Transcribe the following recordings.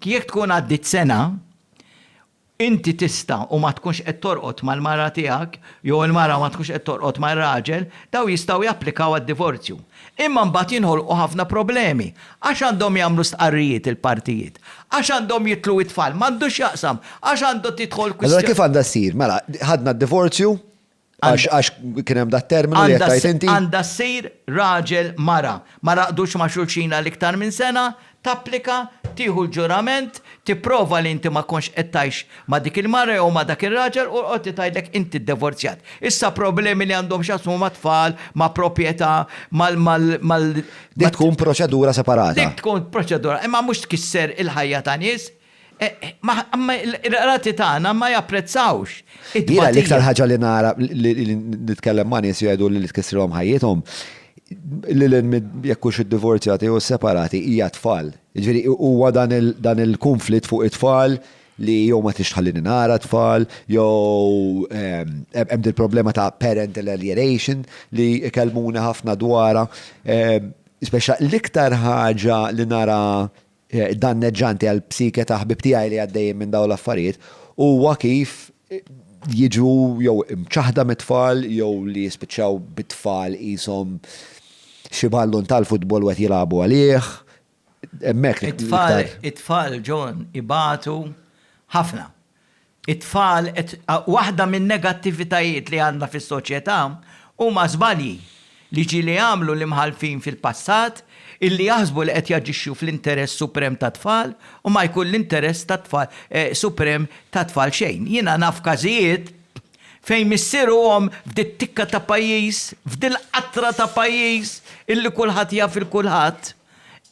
Jekk tkun għaddiet sena, inti tista' u ma tkunx qed torqod mal-mara tiegħek jew il-mara ma tkunx qed torqod mar-raġel, dawn jistgħu japplikaw għad-divorzju. Imma mbagħad jinħolqu ħafna problemi. Għax għandhom jagħmlu stqarrijiet il-partijiet? Għax għandhom jitlu t-tfal? M'għandu x'jaqsam. Għax għandha tidħol kwistjoni. Allura kif għandha ssir? Mela, ħadna d-divorzju, Għax għax kien hemm dat terminu li qed tgħid inti. Għandha ssir raġel mara. Ma raqdux ma' xulxin għal iktar minn sena, tapplika, tieħu l-ġurament, tipprova li inti ma kontx qed tgħix ma' dik il-mara jew ma' dak ir-raġel u l-qorti tgħidlek inti ddivorzjat. Issa problemi li għandhom x'jaqsmu mat-tfal, ma' proprjetà, mal mal. Dik tkun proċedura separata. Dik tkun proċedura, imma mhux tkisser il-ħajja ta' nies. Imma r-rati tagħna ma japprezzawx it-tbatija. Jiena l-iktar ħaġa li nara li nitkellem ma' nies jgħidu li tkissrilhom ħajjithom, lil hinn jekk hux iddivorzjati jew isseparati, hija t-tfal. Jiġifieri huwa dan il-kunflitt fuq it-tfal li jew ma tridx tħallini nara t-tfal, jew hemm din il-problema ta' parental alienation li jkellmuni ħafna dwarha. L-iktar ħaġa li nara danneġġanti għall-psike ta' ħbieb tiegħi li għaddejjin minn dawn l-affarijiet huwa kif jiġu jew imċaħħda mit-tfal jew li jispiċċaw bit-tfal qishom xi ballun tal-futbol u qed jilagħbu għalih. Hemmhekk l-iktar. It-tfal, John, ibatu ħafna. It-tfal qed Waħda min-negattivitajiet li għandna fis-soċjetà huma żbalji li ġieli għamlu l-imħallfin fil-passat illi jaħsbu li qed jaġixxu fl-interess suprem tat-tfal u ma jkun l-interess tat-tfal suprem tat-tfal xejn. Jiena naf każijiet fejn missier u omm f'dit-tikka ta' pajjiż, f'dil-qatra ta' pajjiż illi kulħadd jaf 'il kulħadd,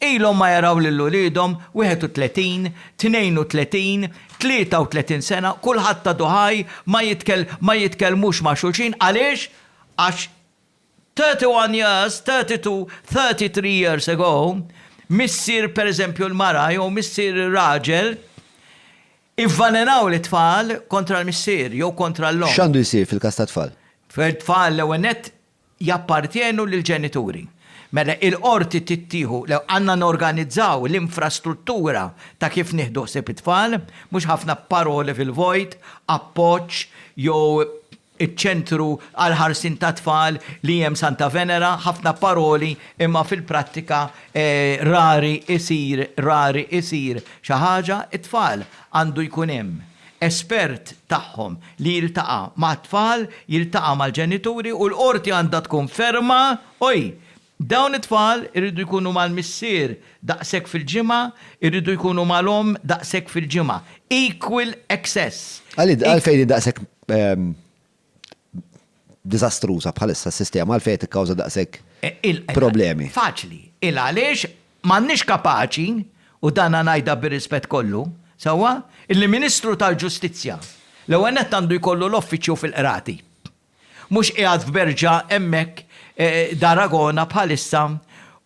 Ilhom ma jaraw lil uliedhom 31, 32, 33 sena, kulħadd għadu ħaj, ma jitkell, ma jitkellmux ma' xulxin, għaliex? Għax 31 years, 32, 33 years ago, missier per eżempju l-mara jew missier ir-raġel, ivvalenaw lit-tfal kontra l-missier jew kontra l-omm. X'għandu jsir fil-każ tat-tfal? Tfal l-ewwel nett jappartjenu lill-ġenituri. Mela il-qorti trid tieħu, le għandna norganizzaw l-infrastruttura ta' kif nieħdu ħsieb it-tfal, mhux ħafna paroli fil-vojt, appoġġ jew iċ-ċentru għall-ħarsien tat-tfal li hemm Santa Venera, ħafna paroli imma fil-prattika rari jsir, rari jsir xi ħaġa, it-tfal għandu jkun hemm. espert tagħhom li jiltaqa' mat-tfal, jiltaqa' mal-ġenituri u l-Qorti għandha tkun ferma u hi, dawn it-tfal iridu jkunu mal-missier daqshekk fil-ġimgħa, iridu jkunu mal-omm daqshekk fil-ġimgħa. Equal access. Għalfejn hi daqshekk diżastruża bħalissa s-sistema għalfejn qed tikkawża daqshekk problemi. Faċli. Il għaliex m'għandniex kapaċi, u dan ngħidha bir-rispett kollu, sewwa, li Ministru tal-Ġustizzja l-ewwel nett għandu jkollu l-offiċċju fil-qrati. Mhux qiegħed f'Berġa hemmhekk d'Aragona bħalissa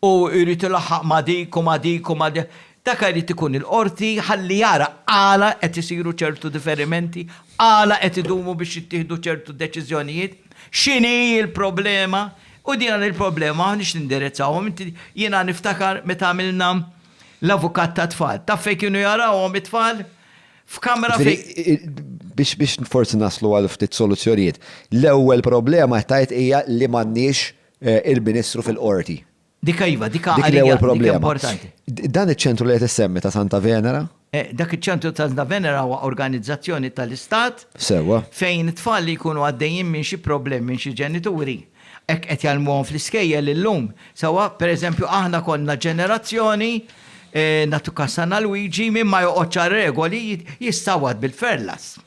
u jrid ilaħħaq ma' dik u ma' dik u ma' dik. Dak irid ikun il-Qorti ħalli jara għala qed isiru ċertu diferimenti, għala qed idumu biex jittieħdu ċertu deċiżjonijiet, x'inhi l-problema, u din il-problema m'aħniex nindirizzawhom. Inti, jiena niftakar meta għamilna l-avukat tat-tfal. Taf fejn kienu jarawhom it-tfal? F'kamra fejn. Biex biex forsi naslu għal ftit soluzzjonijiet. L-ewwel problema qed tgħid hija li m'għandniex il-Ministru fil-Qorti. Dika iva, dika Dik l-ewwel problema. Dan iċ-ċentru li qed issemmi ta' Santa Venera? Eh, dak iċ-ċentru ta' Santa Venera huwa organizzazzjoni tal-Istat. Sewwa. Fejn it-tfal li jkunu għaddejjin minn xi problemi minn xi ġenituri hekk qed jgħallmuhom fl-iskejjel illum. Sewwa, pereżempju aħna konna ġenerazzjoni eh, natu kassana Luigi minn ma joqgħodx regoli jistawad bil-ferlas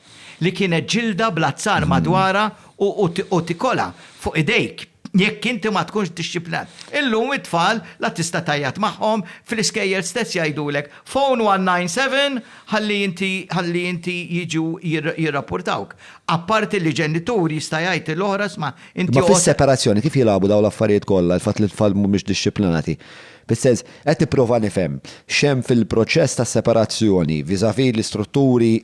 li kienet ġilda blazzar madwara u tikola fuq idejk jekk inti ma tkunx dixxiplinat. Illum it-tfal la tista' tgħajjat magħhom, fl-iskejjel stess jgħidulek, Phone 197 ħalli inti ħalli inti jiġu jirrappurtawk. Apparti li ġenitur jista' jgħid lil oħra isma' inti Imma fis-separazzjoni kif jilagħbu dawn l-affarijiet kollha, il-fatt li t-tfal mhumiex dixxiplinati? Fis-sens, qed nipprova nifhem x'hemm fil-proċess tas-separazzjoni vis-à-vis l-istrutturi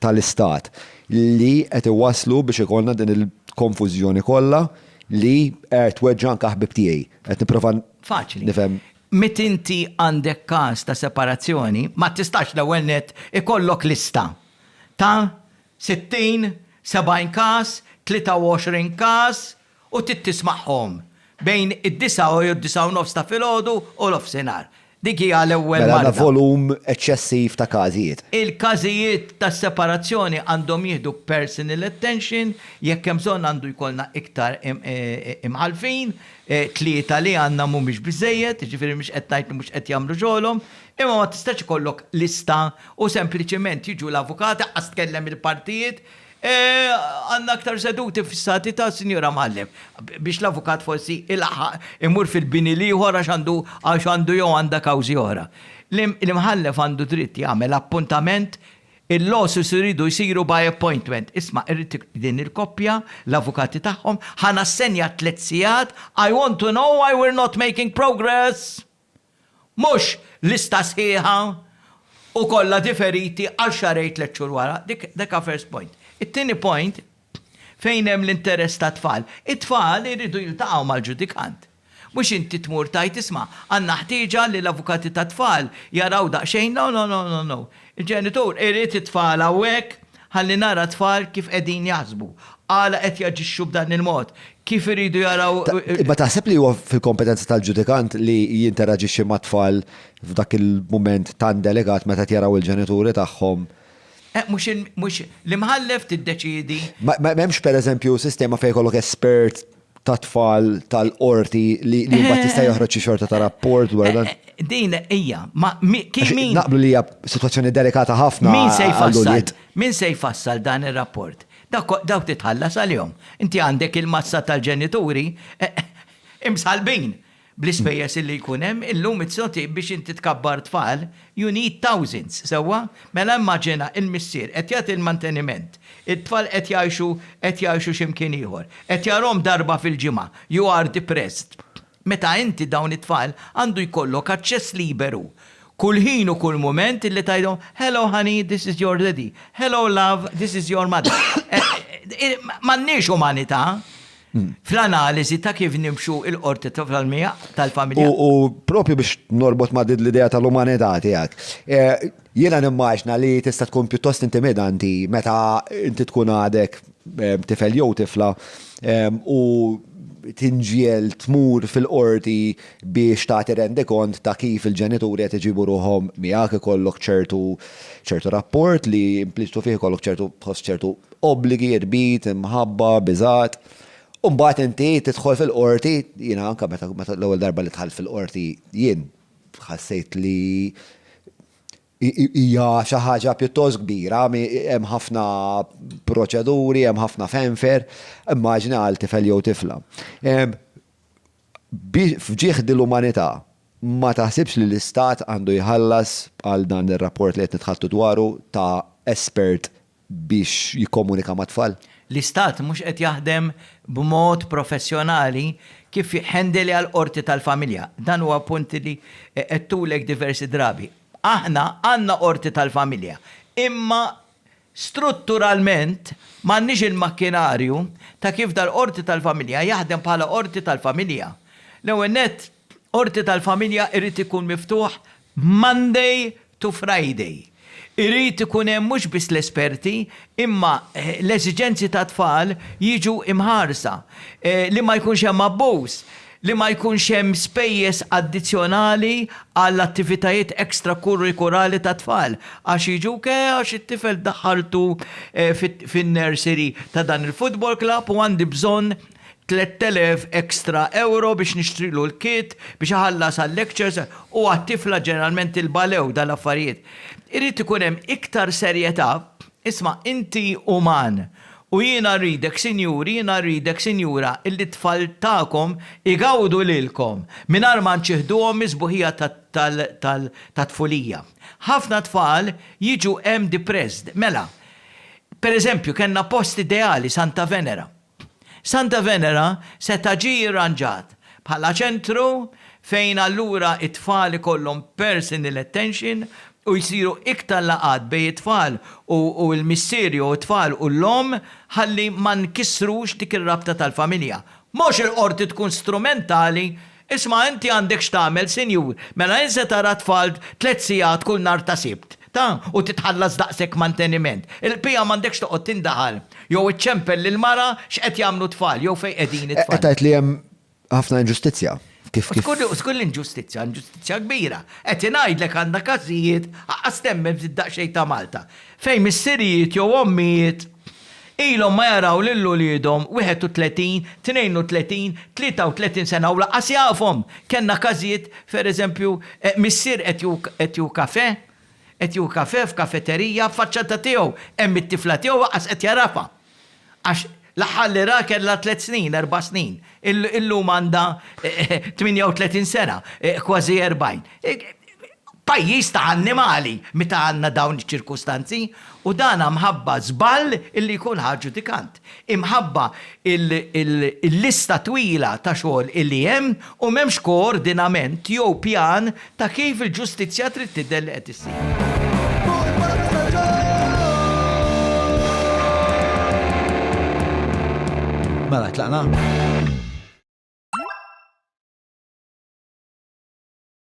tal-Istat li qed iwasslu biex ikollna din il-konfużjoni kollha li qed tweġġa' anke ħbieb tiegħi. Qed nipprova nifhem. Faċli. Meta inti għandek każ ta' separazzjoni, ma tistax l-ewwel nett ikollok lista ta' 60, 70 każ, 23 każ, u trid tismagħhom bejn id-disgħa u d-disgħa u nofs ta' filgħodu u l-offsinhar. Dik hi għal ewwel marda. Mela għandna volum eċċessiv ta' każijiet. Il-każijiet ta' separazzjoni għandhom jieħdu personal attention, jekk hemm bżonn għandu jkollna iktar imħallfin, tlieta li għandna mhumiex biżżejjed, jiġifieri mhux qed ngħid li mhux qed jagħmlu xogħolhom, imma ma tistax ikollok lista u sempliċement jiġu l-avukati, ħa tkellem il-partijiet, Għandna aktar seduti fissati ta' Sinjura Mallem biex l-avukat forsi ilaħħaq imur fil-bini l-ieħor għax għandu għax għandu jew għandha kawżi oħra. L-Imħallef għandu dritt jagħmel appuntament, il-lawsuits iridu jsiru by appointment. Isma' irrid din il-koppja, l-avukati tagħhom, ħa nassenja tliet sigħat, I want to know why we're not making progress! Mhux lista sħiħa u kollha diferiti għal xahrejn tliet xhur wara. Dik dik first point. It-tieni point, fejn hemm l-interess tat-tfal. It-tfal iridu jiltaqgħu mal-ġudikant. Mhux inti tmur tgħid isma' għandna ħtieġa li l-avukati tat-tfal jaraw daqsxejn no no no no no. Il-ġenitur irid it-tfal hawnhekk Ħalli nara t-tfal kif qegħdin jaħsbu, għala qed jaġixxu b'dan il-mod, kif iridu jaraw. Imma taħseb li huwa fil-kompetenza tal-ġudikant li jinteraġixxi mat-tfal f'dak il-mument tant delikat meta qed jaraw il-ġenituri tagħhom? Eh, mhux il, mhux, l-imħallef tiddeċiedi. Ma, ma hemmx pereżempju sistema fejn jkollok espert ta' tfal tal-qorti li mbagħad jista' eh. joħroġ xi xorta ta' rapport dwar dan. Eh, eh, din hija, ma min. Naqblu li hija sitwazzjoni delikata ħafna. Min se jfassal? Min se jfassal dan ir-rapport? Daw titħallas għalihom. Inti għandek il-massa tal-ġenituri imsalbin. Bl-ispejjeż li jkun hemm, illum iz-zoti biex inti tkabbar tfal, you need thousands, sewwa? Mela immaġina l-missier qed jagħti l-manteniment, it-tfal qed jgħixu qed jgħixu xi mkien ieħor, qed jarahom darba fil-ġimgħa, you are depressed. Meta inti dawn it-tfal għandu jkollok aċċess liberu kull ħin u kull mument li tgħidhom, hello honey, this is your daddy, hello love, this is your mother. M'għandniex umanità. fl-analiżi ta' kif nimxu l-qorti tal-familja. U proprju biex norbot ma' l-idea tal-umanità tiegħek, jiena nimmaġina li tista' tkun pjuttost intimidanti meta inti tkun għadek tifel jew tifla u tinġiegħel tmur fil-qorti biex tagħti rendikont ta' kif il-ġenituri qed iġibu ruħhom miegħek, ikollok ċertu rapport li impliċitu fih ikollok ċertu tħoss ċertu obbligi, irbit, imħabba, biżgħat, u mbagħad inti tidħol fil-qorti, jiena anke meta l-ewwel darba li dħalt fil-qorti jien ħassejt li hija xi ħaġa pjuttost kbira, hemm ħafna proċeduri, hemm ħafna fenfer, immaġina għal tifel jew tifla. F'ġieħ dil-umanità, ma taħsibx li l-istat għandu jħallas għal dan ir-rapport li qed nitħaddtu dwaru ta' espert biex jikkomunika mat-tfal? L-Istat mhux qed jaħdem b'mod professjonali kif jhandeli għall-Qorti tal-Familja. Dan huwa punt li għedtulek diversi drabi. Aħna għandna Qorti tal-Familja, imma strutturalment m'għandniex il-makkinarju ta' kif dal-Qorti tal-Familja jaħdem bħala Qorti tal-Familja. L-ewwel nett, Qorti tal-Familja irid ikun miftuħ Monday to Friday. Irid ikun hemm mhux biss l-esperti imma l-eżiġenzi tat-tfal jiġu mħarsa. Li ma jkunx hemm abbuż. Li ma jkunx hemm spejjeż addizzjonali għal attivitajiet extra-kurrikurali tat-tfal għax jiġu ke għax it-tifel daħħaltu fin-nursery ta' dan il-football club u għandi bżonn 3,000 extra euro biex nixtrilu l-kit, biex iħallas għal-lectures, u għat-tifla ġeneralment tilbalew dan l-affarijiet. Irid ikun hemm iktar serjetà, isma' inti uman, u jiena rridek sinjuri, jiena rridek sinjura illi t-tfal tagħkom igawdu lilkom mingħajr ma nċieħduhom mis-sbuħija tat-tfulija. Ħafna tfal jiġu hemm depressed. Mela, per eżempju, kellna post ideali, Santa Venera. Santa Venera seta' ġie irranġat bħala ċentru fejn allura t-tfal ikollhom personal attention u jsiru iktar laqgħat bejn it-tfal u l-missier jew it-tfal u l-omm ħalli ma nkissrux dik ir-rabta tal-familja. Mhux il-qorti tkun strumentali Isma' inti għandek x'tagħmel, sinjur, mela int se tara t-tfal tliet sigħat kull nhar ta' Sibt, ta? u titħallas daqshekk manteniment. Il-qbija m'għandekx toqgħod tindaħal, jew iċċempel lill-mara x'qed jagħmlu t-tfal, jew fejn qegħdin it-tfal. Qed tgħid li hemm ħafna inġustizzja, kif, kif. U skur l-inġustizzja, inġustizzja kbira. Qed ingħidlek għandna każijiet, aqqas temmen f'din daqsxejn ta' Malta, fejn missirijiet jew ommijiet, Ilhom ma jaraw lil uliedhom, 31, 32, 33 sena u lanqas jafhom! Kellna każijiet, pereżempju, missier qed jieħu kafè, qed jieħu kafè f'kafeterija, f'faċċata tiegħu hemm it-tifla tiegħu lanqas qed jagħrafha. Għax l-aħħar li raha kellha tliet snin, erba' snin. Illum għandha 38 sena, kważi 40. Pajjiż ta' annimali meta għandna dawn iċ-ċirkustanzi u dan mħabba żball illi jkun ħa ġudikant. Imħabba il-lista twila ta' xogħol illi hemm u m'hemmx koordinament jew pjan ta' kif il-ġustizzja trid tidher li qed issir. Mela tlaqna?